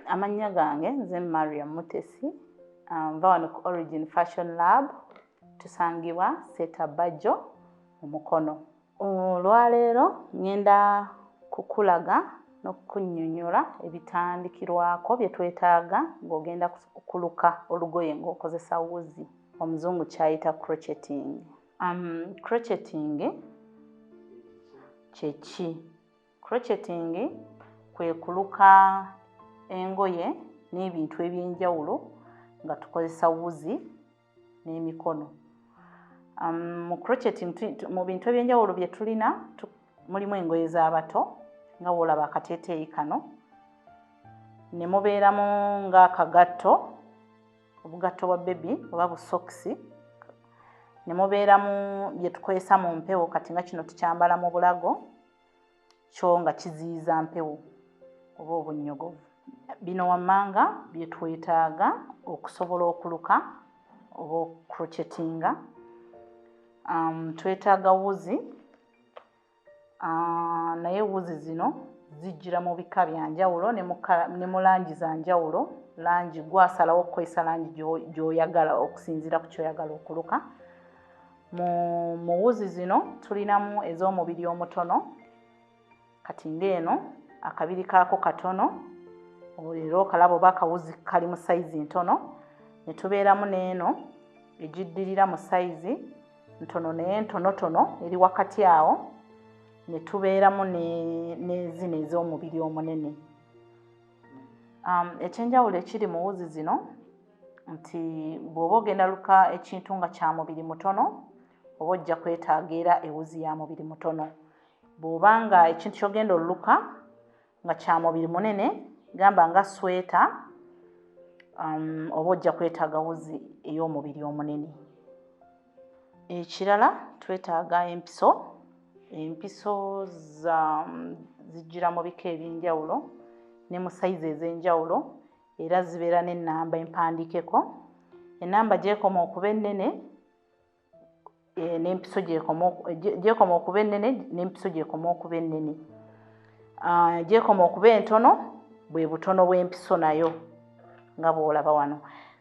amannya gange nze maria mutesi ah, nva wano ku origin fashion lab tusangibwa setabajo omukono Olwaleero ngenda kukulaga n'okukunyonyola ebitandikirwako bye twetaaga ng'ogenda kuluka olugoye ng'okozesa wuzi omuzungu kyayita crocheting. Um, crocheting kyeki? Crocheting kwe kuluka engoye n'ebintu eby'enjawulo nga tukozesa wuzi n'emikono um, mu crochet mu bintu ebyenjawulo bye tulina mulimu engoye z'abato nga woolaba akateeteeyi kano ne mubeeramu ng'akagatto obugatto bwa bebi oba busokisi ne mubeeramu bye tukozesa mu mpewo kati nga kino tukyambala mu bulago kyo nga kiziyiza mpewo oba obunnyogovu bino wammanga bye twetaaga okusobola okuluka oba okukrochetinga um, twetaaga wuzi uh, naye wuzi zino zijjira mu bika bya njawulo ne mu langi za njawulo langi gwasalawo okukozesa langi gy'oyagala okusinziira ku kyoyagala okuluka mu muwuzi zino tulinamu ez'omubiri omutono kati ng'eno akabiri kaako katono era okalaba oba akawuzi kali mu sayizi ntono ne tubeeramu n'eno egiddirira mu sayizi ntono naye ntonotono eri wakati awo ne tubeeramu n'ezino ez'omubiri omunene um, ekyenjawulo ekiri mu wuzi zino nti bw'oba ogenda luka ekintu nga kya mubiri mutono oba ojja kwetaaga era ewuzi ya mubiri mutono bw'oba nga ekintu kyogenda oluluka nga kya mubiri munene gamba nga sweta um, oba ojja kwetaaga wuzi ey'omubiri omunene ekirala twetaaga empiso empiso zijjira mu bika eby'enjawulo ne mu sayizi ez'enjawulo era zibeera n'ennamba empandiikeko ennamba gyekoma okuba ennene eh, n'empiso gyekoma okuba ennene n'empiso gyekoma okuba ennene ah, gyekoma okuba entono bwe butono bw'empiso nayo nga bw'olaba wano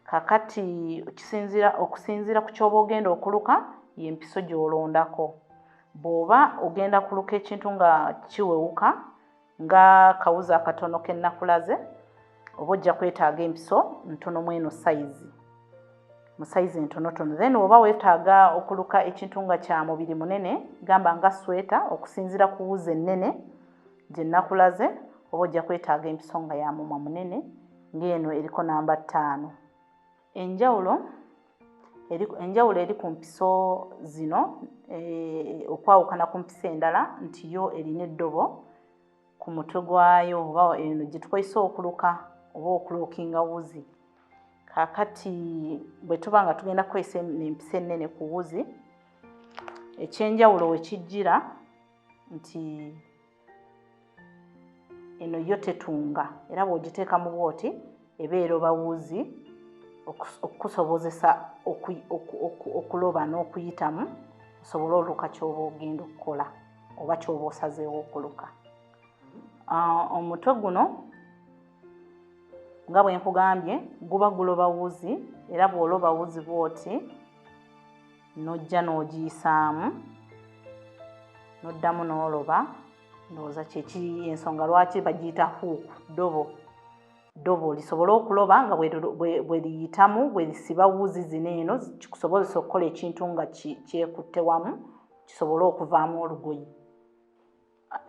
kakati kisinzira okusinziira ku kyoba ogenda okuluka y'empiso gy'olondako bw'oba ogenda kuluka ekintu nga kiwewuka nga kawuzi akatono kenakulaze oba ojja kwetaaga empiso ntono mweno sayizi mu sayizi entonotono then oba wetaaga okuluka ekintu nga kya mubiri munene gamba nga sweta okusinzira ku wuzi ennene gye nakulaze oba ojja kwetaaga empiso nga ya mumwa munene ng'eno eriko namba ttaano enjawulo enjawulo eri ku mpiso zino eh, okwawukana ku mpiso endala nti yo erina eddobo ku mutwe gwayo oba eno gye tukozesa okuluka oba okulokinga wuzi kakati bwe tuba nga tugenda kukozesa empiso ennene ku wuzi ekyenjawulo wekijjira nti eno yo tetunga era bw'ogiteeka mu bwoti ebeera oba wuzi okukusobozesa okuloba n'okuyitamu osobole oluka ky'oba ogenda okukola oba ky'oba osazeewo okuluka ah, omutwe guno nga bwe nkugambye guba guloba wuzi era bw'oloba wuzi bw'oti n'ojja n'ogiyisaamu n'oddamu n'oloba ndowooza kyeki ensonga lwaki bagiyita huuku ddobo ddobo lisobole okuloba nga bwe liyitamu bwe lisiba wuzi zino eno kikusobozesa okukola ekintu nga kyekutte wamu kisobole okuvaamu olugoye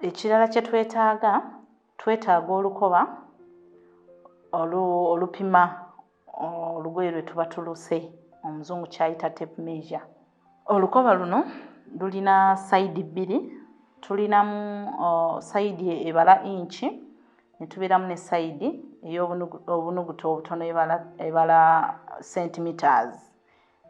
ekirala kye twetaaga twetaaga olukoba olupima olugoye lwe tuba tuluse omuzungu kyayita tape measure olukoba luno lulina sayidi bbiri tulinamu sayidi ebala inki ne tubeeramu ne sayidi ey'obunuguta obutono ebala centimeters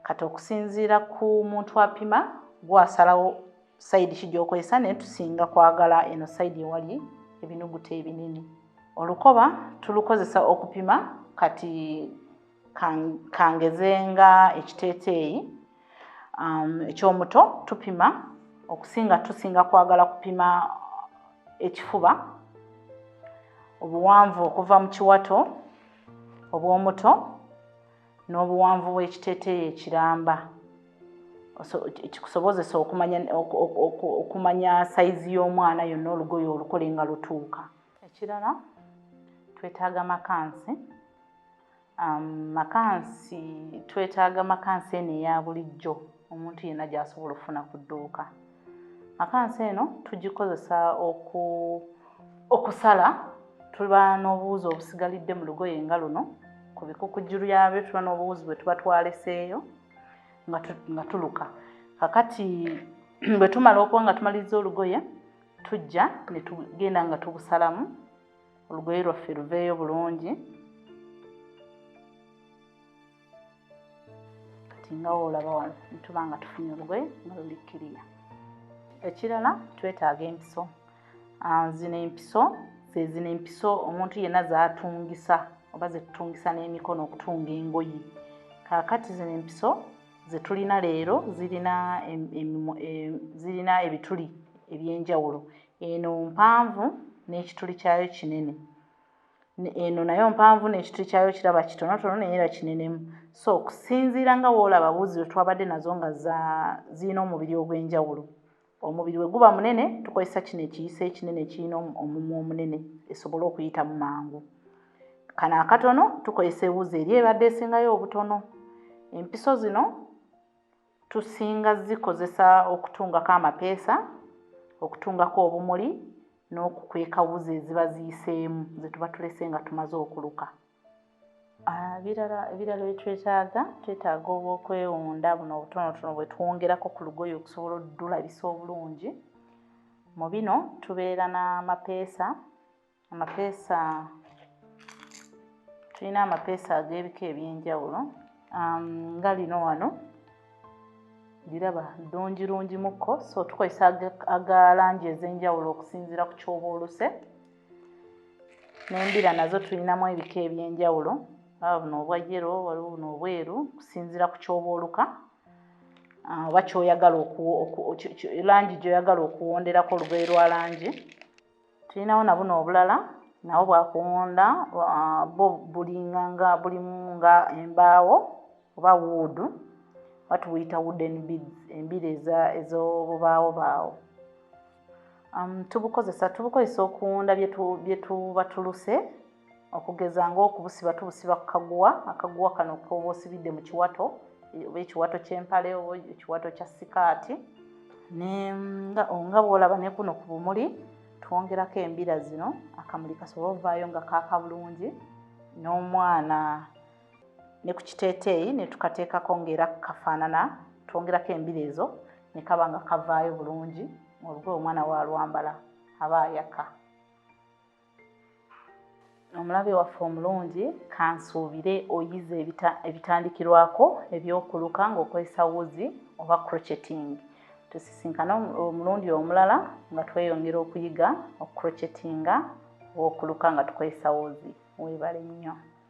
kati okusinziira ku muntu apima gwasalawo sayidi ki gyokozesa naye tusinga kwagala eno sayidi ewali ebinuguta ebinene olukoba tulukozesa okupima kati kangeze nga ekiteeteeyi um, ekyomuto tupima okusinga tusinga kwagala kupima ekifuba obuwanvu okuva mu kiwato obwomuto n'obuwanvu bw'ekiteeteeyi ekiramba kikusobozesa okumanya okumanya sayizi y'omwana yonna olugoye olukole nga lutuuka ekirala twetaaga makansi um, makansi twetaaga makansi eno eya bulijjo omuntu yenna gy'asobola okufuna ku dduuka akansi eno tugikozesa oku okusala tuba n'obuwuzi obusigalidde mu lugoye nga luno ku bikukujulu yabyo tuba n'obuwuzi bwe tuba twaleseeyo nga tuluka kakati bwe tumala okuba nga tumaliriza olugoye tujja ne tugenda nga tubusalamu olugoye lwaffe luveeyo bulungi kati nga woolaba wano nituba nga tufunye olugoye nga luli kiriya ekirala twetaaga empiso ah, zino empiso zezino empiso omuntu yenna zatungisa oba zetutungisa n'emikono okutunga engoye kakati zino empiso zetulina leero zirina zirina ebituli ebyenjawulo eno mpanvu n'ekituli kyayo kinene eno nayo mpanvu n'ekituli kyayo kiraba kitonotono naye era kinenemu so okusinziira nga woolaba buuzi lwe twabadde nazo nga zirina omubiri ogw'enjawulo omubiri we guba munene tukozesa kino ekiyisa ekinene ekirina omumwa omunene esobole okuyitamu mangu kano akatono tukozesa ebuuzi eri ebadde esingayo obutono empiso zino Tusinga zikozesa okutungako amapeesa, okutungako obumuli n'okukweka wuzi eziba ziyiseemu ze tuba tulese nga tumaze okuluka. Ebirala ah, ebirala bye twetaaga twetaaga obwokwewunda buno obutonotono bwe twongerako ku lugoye okusobola oddulabisa obulungi. Mu bino tubeera n'amapeesa amapeesa tulina amapeesa ag'ebika eby'enjawulo um, nga lino wano liraba ddungi lungi mukko so tukozesa aga langi ez'enjawulo okusinziira ku kyoba oluse n'embira nazo tulinamu ebika eby'enjawulo aba buno obwa yero waliwo buno obweru okusinziira ku kyoba oluka Ah, oba kyoyagala langi gyoyagala okuwonderako olugoye lwa langi Tulinawo na buno obulala nabwo bwa kuwunda ah, bwo bulinga nga bulimu nga embaawo oba wuudu oba tubuyita wooden beads embiri ez'obubaawo baawo um, tubukozesa tubukozesa okuwunda bye tuba tuluse okugeza ng'okubusiba tubusiba ku kaguwa akaguwa kano koba osibidde mu kiwato oba ekiwato ky'empale oba ekiwato kya sikaati nga bwolaba ne kuno ku bumuli twongerako embira zino akamuli kasobola ovaayo nga kaaka bulungi n'omwana ne ku kiteeteeyi ne tukateekako ng'era kafaanana twongerako embira ezo ne kaba nga kavaayo bulungi olugoye omwana waalwambala aba ayaka omulabe waffe omulungi kansuubire oyize ebitandikirwako ebyokuluka ng'okozesa wuzi oba crocheting tusisinkane omulundi omulala nga tweyongera okuyiga okukrochetinga oba okuluka nga tukozesa wuzi weebale nnyo